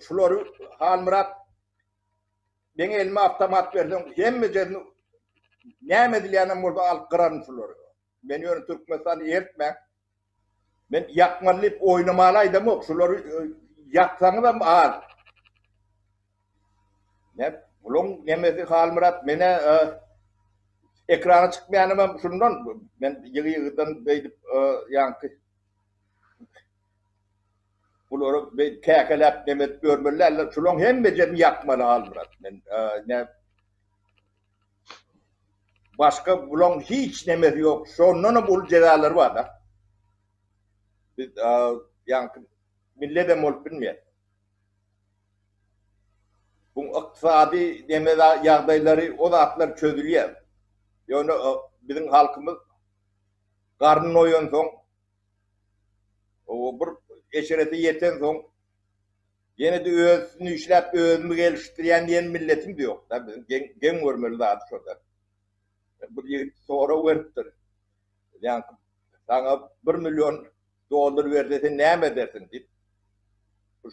Şulary Halmyrat meň elime awtomat berseň, hemmejesini näme edilýänem bolsa alyp gyraryn şulary. Men ýöne Türkmenistany eritmäň. Men ýakmaly diýip oýnamaly aýdamok. Şulary e, ýaksaňyzam az. Ne, buluň nemesi Halmyrat mene e, ekrana çykmaýanymam şundan men ýygy-ýygydan beýdip e, ýaňky Bulary beý käkeläp neme edip ýörmeli däldir. Şulaň hemmejesini ýakmaly Halmyrat. Men nä Başga bulaň hiç nemesi ýok. Şondanam uly jezalary bar-da. Biz ýaňky milledem bolup bilmeýär. Bu ykdysady neme ýagdaýlary o zatlar çözülýär. Ýöne biziň halkymyz garny doýansoň O bir eşrete ýetensoň, ýene-de özüni işläp, özümi gelişdirýän diýen milletim-de ýok-da. Biziň geň, geň görmeli zady şo-da. Bir ýigit sorag beripdir. Ýaňky, Saňa bir million dollar berse, sen näme edersiň? diýip.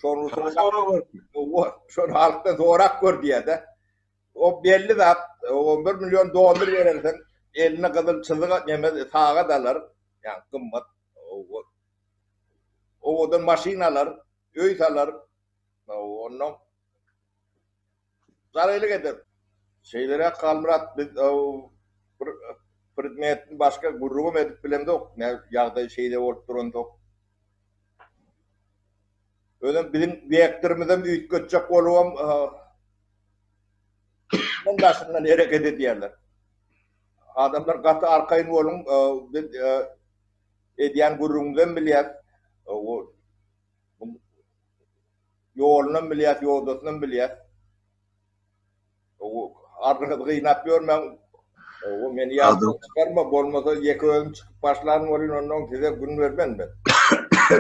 Şony sorag beripdir. Owa, şony halkdan sorap gör diýýär-de. O belli zat, on bir million dollar berensiň, eline gyzyl çyzyk neme sagat alar, ýa gymmat owadan maşyn alar, öý salar, onnoň jarylyk eder. Şeýleräk Halmyrat, biz bir predmetini başga gürrüňem edip bilemzok, ýagdaý şeýle bolup duransoň. Özem biziň direktorymyzam üýtgetjek bolubam tutunyň daşyndan hereket edýärler. Adamlar gaty arkaýyn boluň, biz edýän gürrüňimizem bilýäs, ýolunam bilýäs, ýodasynam bilýäs. Ardyňyzy gynap ýörmäň. Owo, meni ýatdan çykarma, bolmasa ýeke özüm çykyp başlan bolyn, onnoň size gün bermen men.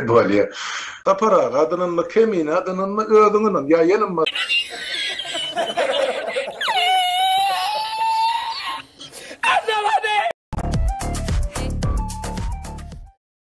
Bolýar. Sapar aga, adynynmy, Kemine adynynmy, özüňinim, ýa ýene ma.